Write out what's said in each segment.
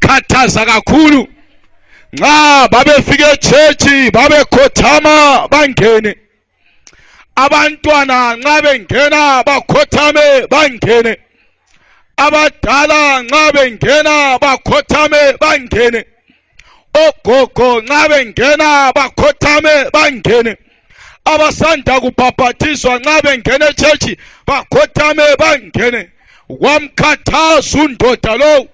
khathaza kakhulu nxa babefika echechi babekhothama bangene abantwana nxa bengena bakhothame bangene abadala nxa bengena bakhothame bangene ogogo nxa bengena bakhothame bangene abasanda kubhabhathizwa nxa bengena echechi bakhothame bangene wamkhathaza undoda lowo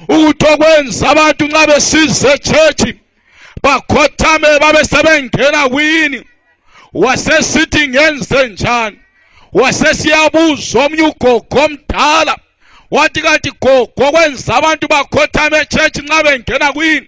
ukuthi okwenza abantu nxa besize church bakhothame babe sebengena kwini wasesithi ngenze njani wasesiyabuza omnye ugogo omdala wathi kanti gogo kwenza abantu bakhothame echurch nxa bengena kwini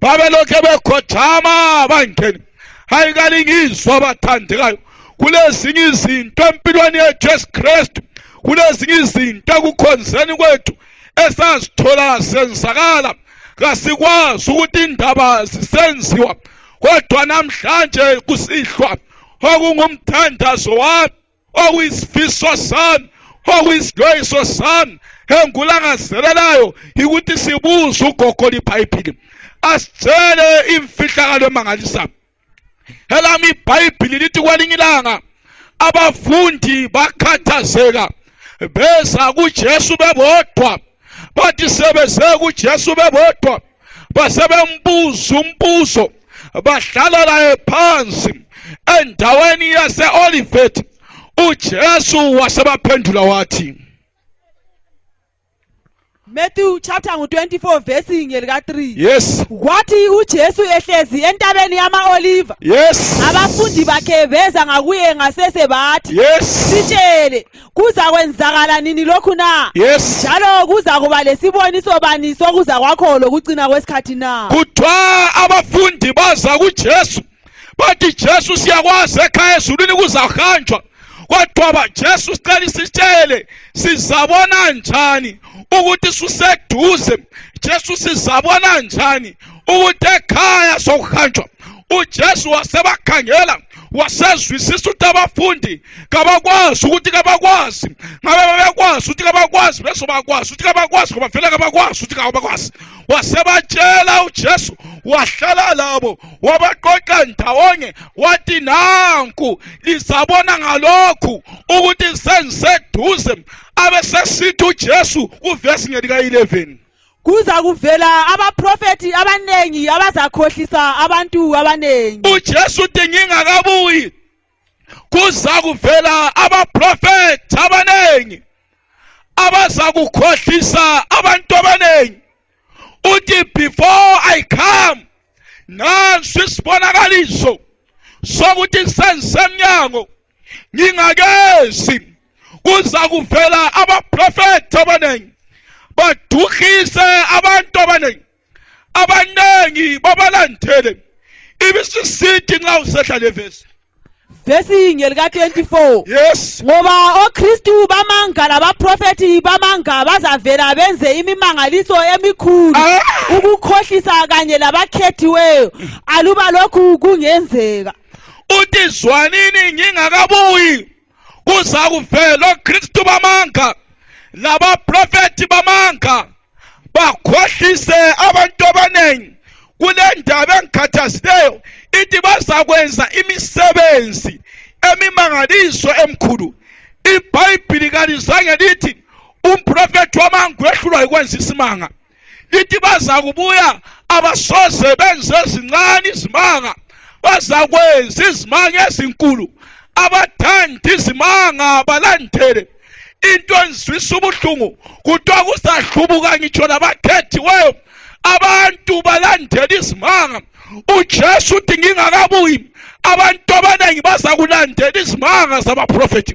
babelokhe bekhothama bangene hayi kalingizwa abathandekayo kulezinye izinto empilweni yethu yesu kristu kulezinye izinto ekukhonzeni kwethu esazithola senzakala kasikwazi ukuthi indaba zisenziwa kodwa namhlanje kusihlwa okungumthandazo wami okuyisifiso sami okuyisixwayiso sami engulangazelelayo yikuthi sibuze ugogo libhayibhili asitshele imfihlakalo emangalisayo elami ibhayibhili lithi kwelinye ilanga abafundi bakhathazeka beza kujesu bebodwa bathi sebeze kuJesu bebodwa basebembuza umbuzo bahlala laye phansi endaweni yase-olivet ujesu wasebaphendula wathi Matthew chapter ngu-24 verse ngelika-3 yes kwathi ujesu ehlezi entabeni yama-oliva yes abafundi bakhe beza ngakuye ngasese bathi yes sitshele kuza kwenzakala nini lokhu na yes njalo kuza kuba lesiboniso bani sokuza kwakho lokucina kwesikhathi na kuthiwa abafundi baza kujesu bathi jesu siyakwazi ekhaya ezulwini kuzahanjwa kodwa bajesu sicela isitshele sizabona njani ukuthi suseduze jesu sizabona njani ukuthi ekhaya sokuhanjwa ujesu wasebakhangela wasezwisisa ukuthi abafundi kabakwazi ukuthi kabakwazi ngabe babekwazi ukuthi kabakwazi bezobakwazi ukuthi kabakwazi ngoba vele kabakwazi ukuthi kabakwazi wasebatshela uJesu wahlala labo wabaqoqa ndawonye wathi nanku lizabona ngalokhu ukuthi sengiseduze abesesithi uJesu kuvesi ngelika 11 kuza kuvela abaprofethi abaningi abazakhohlisa abantu abaningi uJesu uthi ngingakabuyi kuza kuvela abaprofethi abaningi abazakukhohlisa abantu abaningi uthi before i come nansi isibonakaliso sokuthi sengisemnyango ngingakezi kuza kuvela abaprofethi abaningi baduhise abantu abaningi abaningi babalandele ibisisithi nxa usehla le vesi vesi yinye lika-24 yes ngoba okristu bamanga labaprofethi bamanga bazavela benze imimangaliso emikhulu ah! ukukhohlisa kanye labakhethiweyo aluba lokhu kungenzeka uthi zwanini ngingakabuyi kuza kuvela oKristu bamanga labaprofeti bamanga bakhohlise abantu abaningi kule ndaba engikhathazileyo ithi bazakwenza imisebenzi emimangaliso emkhulu ibhayibhili kalizange lithi umprofethi wamanga wehlulwa yikwenza isimanga lithi bazakubuya abasoze benze ezincane izimanga bazakwenza izimanga ezinkulu abathanda izimanga balandele into enzwisa ubuhlungu kuthiwa kusahlubuka ngitsho nabakhethiweyo abantu balandela izimanga ujesu uthi ngingakabuyi abantu abaningi bazakulandela izimanga zabaprofethi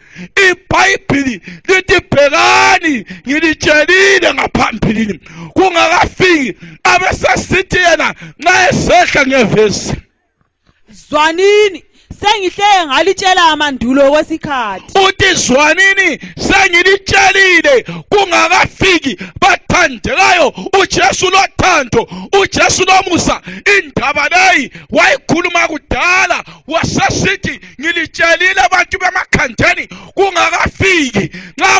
ibhayibhili lithi bhekani ngilitshelile ngaphambilini kungakafiki abesesithi yena nxa esehla ngevesi zwanini sengihleke ngalitshela amandulo kwesikhathi uthi zwanini sengilitshelile kungakafiki bathandekayo uJesu lothando uJesu lomusa indaba leyi wayikhuluma kudala wasesithi ngilitshelile abantu bemakhandeni kungakafiki nxa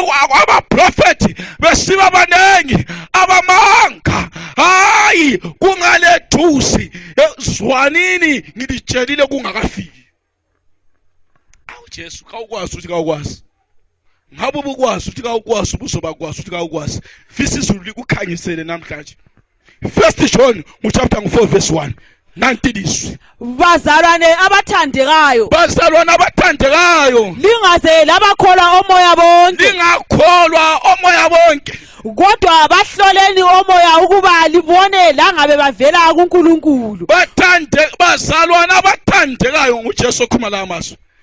abaprofethi besiba baningi abamanga hayi kungalethusi eh, zwanini ngilitshelile kungakafiki awu jesu kawukwazi ukuthi kawukwazi ngabe ubukwazi ukuthi kawukwazi ubuzobakwazi ukuthi kawukwazi fisa izulu likukhanyisele namhlanje first john nguchapter ngu-4 verse 1 nanti lizwi bazalwane abathandekayo bazalwane abathandekayo lingaze labakholwa omoya bonke lingakholwa omoya bonke kodwa bahloleni omoya ukuba libone langabe bavela kuNkulunkulu bathande bazalwana abathandekayo nguJesu okhuluma la mazwi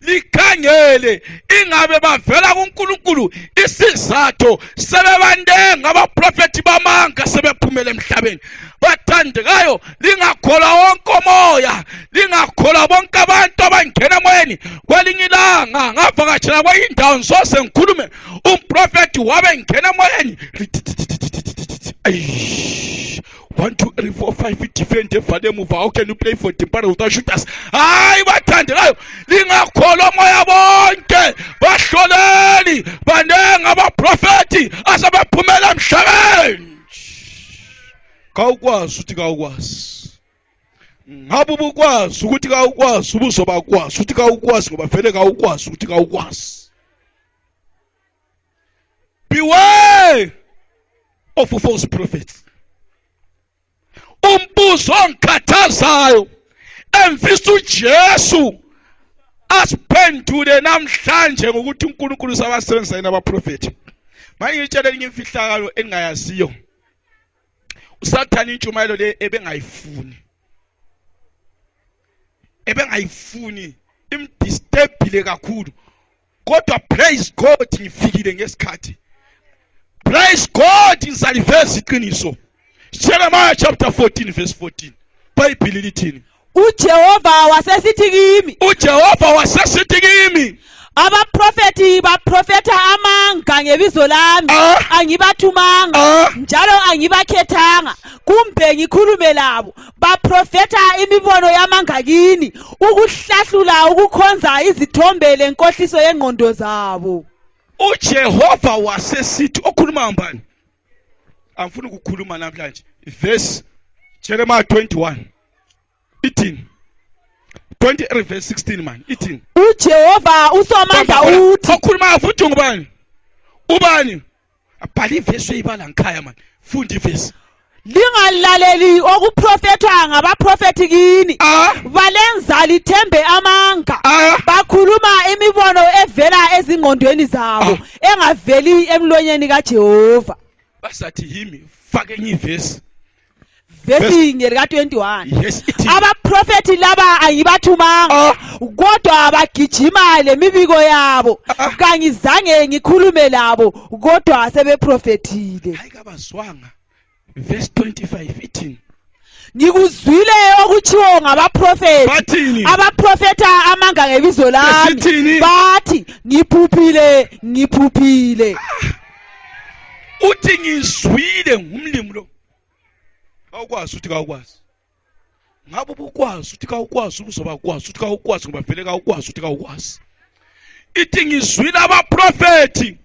likhangele ingabe bavela kuNkulunkulu isizathu sebebandenga abaprofethi bamanga sebephumele emhlabeni bathandekayo lingakholwa wonke umoya lingakholwa bonke abantu abangena emoyeni kwelinye ilanga ngavakashela kwenye indawo ngisoze ngikhulume umprofethi wabe ngena emoyeni 1 2 3 4 5 idefend evale emuva how can you play for dimpara without shooters hayi bathandelayo lingakholwa moya bonke bahloleli baningi abaprofethi asebephumela emhlabeni kawukwazi ukuthi kawukwazi ngabe ubukwazi ukuthi kawukwazi ubuzobakwazi ukuthi kawukwazi ngoba vele kawukwazi ukuthi kawukwazi Beware of false prophets. Umbuzo ongikhathazayo engifisa uJesu asiphendule namhlanje ngokuthi uNkulunkulu usabasebenzisa yena abaprofethi. Manje ngitshela elinye imfihlakalo engingayaziyo. usathane intshumayelo le ebengayifuni ebengayifuni imdisturbile kakhulu kodwa praise God ngifikile ngesikhathi praise God ngizaliveza iqiniso Jeremiah chapter 14 verse 14 Bible lithini uJehova wasesithi kimi uJehova wasesithi kimi abaprofethi baprofetha amanga ngebizo lami ah. angibathumanga ah. njalo angibakhethanga kumbe ngikhulume labo baprofetha imibono yamanga kini ukuhlahlula ukukhonza izithombe lenkohliso yengqondo zabo uJehova wasesithi okhuluma ngubani angifuni ukukhuluma namhlanje verse Jeremiah 21 ithini 23 verse 16 man ithini uJehova usomandla uthi okhuluma futhi ngubani ubani abhala ivesi uyibala ngikhaya mani funda ivesi lingalaleli okuprofethwa ngabaprofethi kini ah. balenza lithembe amanga ah. bakhuluma imibono evela ezingqondweni zabo ah. engaveli emlonyeni kajehova basathi yimi fake enye ivesi vesinye lika 21 yes ithi abaprofethi laba angibathumanga Ah. kodwa abagijima lemibiko yabo Ah. kangizange ngikhulume labo kodwa sebeprofethile hayi kabazwanga verse 25 ithini ngikuzwile okuthiwo ngabaprofethi bathini abaprofetha amanga ngebizo lami Besithini? bathi ngiphuphile ngiphuphile uthi ngizwile ngumlimi lo kawukwazi ukuthi kawukwazi ngabe ubukwazi ukuthi kawukwazi ubuzoba kwazi ukuthi kawukwazi ngoba vele kawukwazi ukuthi kawukwazi ithi ngizwile abaprofethi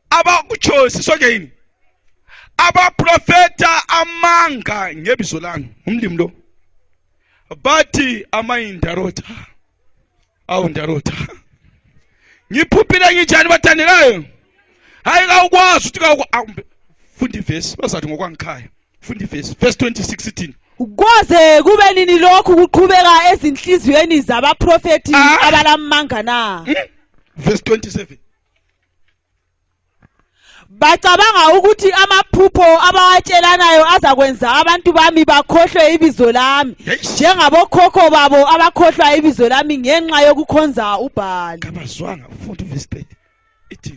abakuchosi sonke yini abaprofeta amanga ngebizo lami umlimi lo bathi amayindarota awu ndarota ngiphuphile nginjani bathandekayo hayi kawukwazi ukuthi kawuku funda ivesi bazathi ngokwangikhaya funda ivesi verse 26 ithini kwaze kube nini lokhu kuqhubeka ezinhliziyweni zabaprofethi ah. abalamanga na hmm? verse 27 bacabanga ukuthi amaphupho abawatshelanayo azakwenza abantu bami bakhohlwe ibizo lami njengabokhokho babo abakhohlwa ibizo lami ngenxa yokukhonza ubhali kabazwanga futhi verse 30 ithi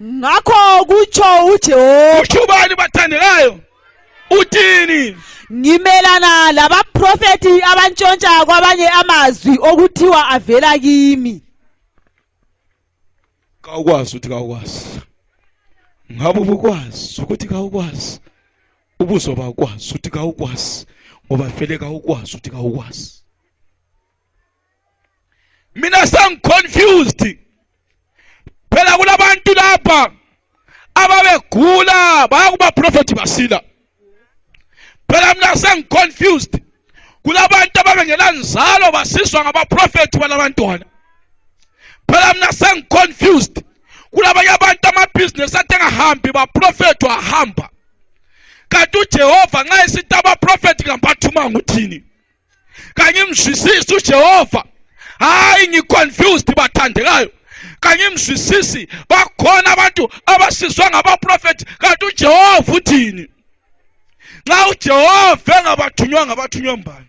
ngakho kutsho uJehova uthi ubani bathandekayo uthini ngimelana labaprofeti abantshontsha kwabanye amazwi okuthiwa avela kimi kawukwazi ukuthi kawukwazi ngabe ubukwazi ukuthi kawukwazi ubuzoba kwazi ukuthi kawukwazi ngoba vele kawukwazi ukuthi kawukwazi mina sengiconfused phela kulabantu lapha ababegula bayakuba prophet basila phela mina sengiconfused kulabantu abangenanzalo basizwa ngabaprofethi balabantwana phela mina sengiconfused kulabanye abantu amabhizinesi athi engahambi baprofethi wahamba kanti ujehova nxa esithi abaprofethi kambathumanga uthini kangimzwisisi uJehova hayi ngiconfused bathandekayo kangimzwisisi bakhona abantu abasizwa ngabaprofethi kanti uJehova uthini nxa uJehova engabathunywa ngabathunywa mbani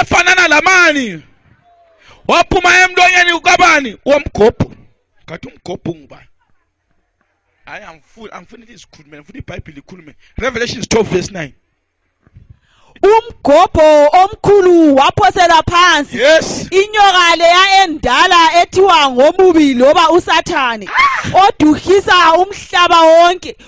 efanana lamani waphuma emlonyeni ukabani womgobhu ngathi umgobhu ngubani hayi angifuni angifuni lizikhulume ngifuna ibhayibhile ikhulume revelations 12 verse 9 umgobho omkhulu waphosela phansi yes inyoka leya endala ethiwa ngomubi loba usathane ah! oduhisa umhlaba wonke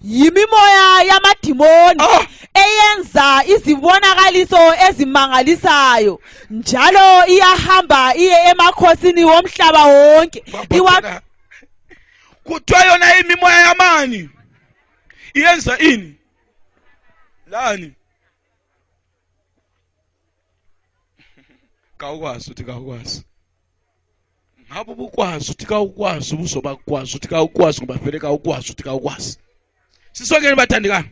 yimimoya yamadimoni Ah! eyenza izibonakaliso ezimangalisayo njalo iyahamba iye emakhosini womhlaba wonke iwa Babhekana. kuthiwa yona imimoya yamani iyenza ini lani kawukwazi uthi kawukwazi ngabe ubukwazi uthi kawukwazi ubuzoba kukwazi uthi kawukwazi ngoba vele kawukwazi uthi kawukwazi sisongeni bathandekani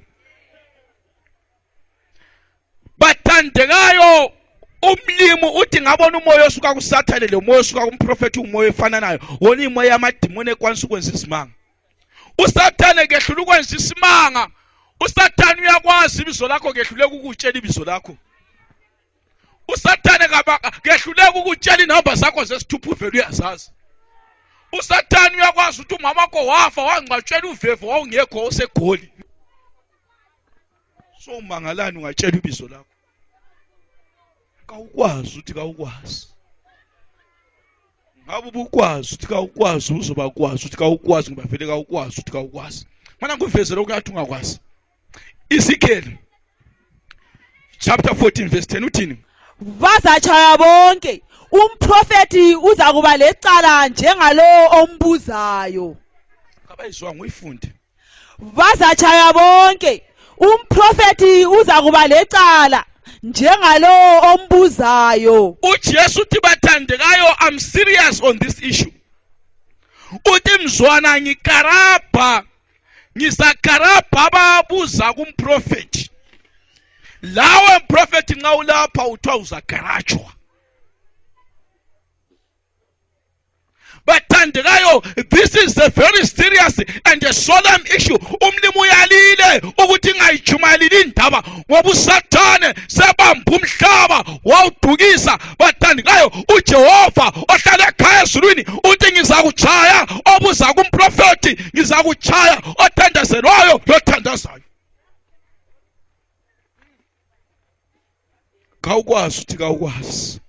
bathandekayo umlimi uthi ngabona umoya osuka kusathane lo moya osuka kumprofethi umoya efananayo wona imoya yamadimoni ekwanisa ukwenza izimanga usathane kehlula ukwenza isimanga usathane uyakwazi ibizo lakho kehluleka ukutshela ibizo lakho usathane kehluleka ukutshela inhamba zakho zesithupha uvele uyazazi usathane uyakwazi ukuthi umama wakho wafa wangcwatshela uvevo wawungekho osegoli so umangalani ungatshela ibizo lakho kawukwazi ukuthi kawukwazi ngabe ubukwazi ukuthi kawukwazi uzobakwazi ukuthi kawukwazi ngoba vele kawukwazi ukuthi kawukwazi mana ngivezele ukuthi ungakwazi Ezekiel chapter 14 verse 10 uthini bazachaya bonke umprofeti uza kuba lecala njengalowo ombuzayo abayizwa nguyifunde bazachaya bonke umprofeti uza kuba lecala njengalowo ombuzayo uJesu uthi bathandekayo I'm serious on this issue uthi mzwana ngikarabha ngisakarabha ababuza kumprofethi lawe mprofethi nxa ulapha uthiwa uzagarajwa bathandekayo this is a very serious and a solemn issue umlimi uyalile ukuthi ingayijumayelile indaba ngoba usathane sebamba umhlaba wawudukisa bathandi ngayo ujehova ohlala ekhaya ezulwini uthi ngizakuchaya obuza kumprofethi ngizakuchaya othandazelwayo lothandazayo kawukwazi uthi kawukwazi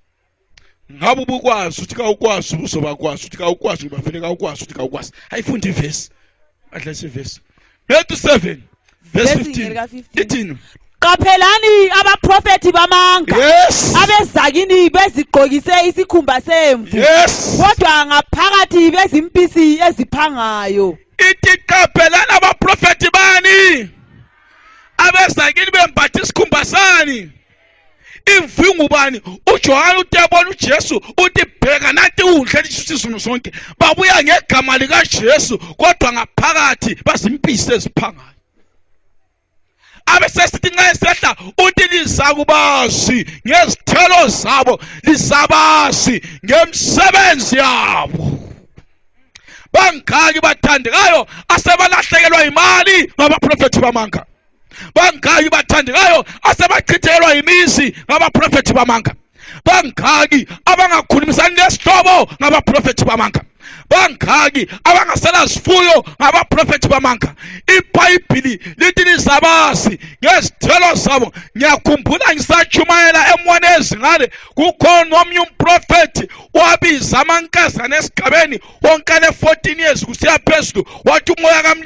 ngabe ubukwazi uthi kawukwazi ubuzobakwazi uthi kawukwazi ngibafele kawukwazi uthi kawukwazi ayifunda ivesi adla isivesi 37 verse 15 ithini qaphelani abaprofethi bamanga yes. abezakini bezigqokise isikhumba semvu yes. kodwa ngaphakathi bezimpisi eziphangayo ithi qaphelani abaprofethi bani abezakini bembatha isikhumba sani imvi ngubani ujohane uthi yabona ujesu uthi bheka nanti unhle lisizunu zonke babuya ngegama likajesu kodwa ngaphakathi bazimpisi eziphangayo abesesithi nxa esehla uthi lizakubazi ngezithelo zabo lizabazi ngemsebenzi yabo bangaki bathandekayo asebalahlekelwa imali ngabaprofethi bamanga bangaki bathandekayo asebachithelwa yimizi ngabaprofethi bamanga bangaki abangakhulumisani nesihlobo ngabaprofethi bamanga bangaki abangasela zifuyo ngabaprofethi bamanga ibhayibhili lithi nizabazi ngezithelo zabo ngiyakhumbula ngisatshumayela emwana ezingane kukhona omnye umprofethi wabiza amankazana esigabeni wonkane 14 years kusiya phezulu wathi umoya kamli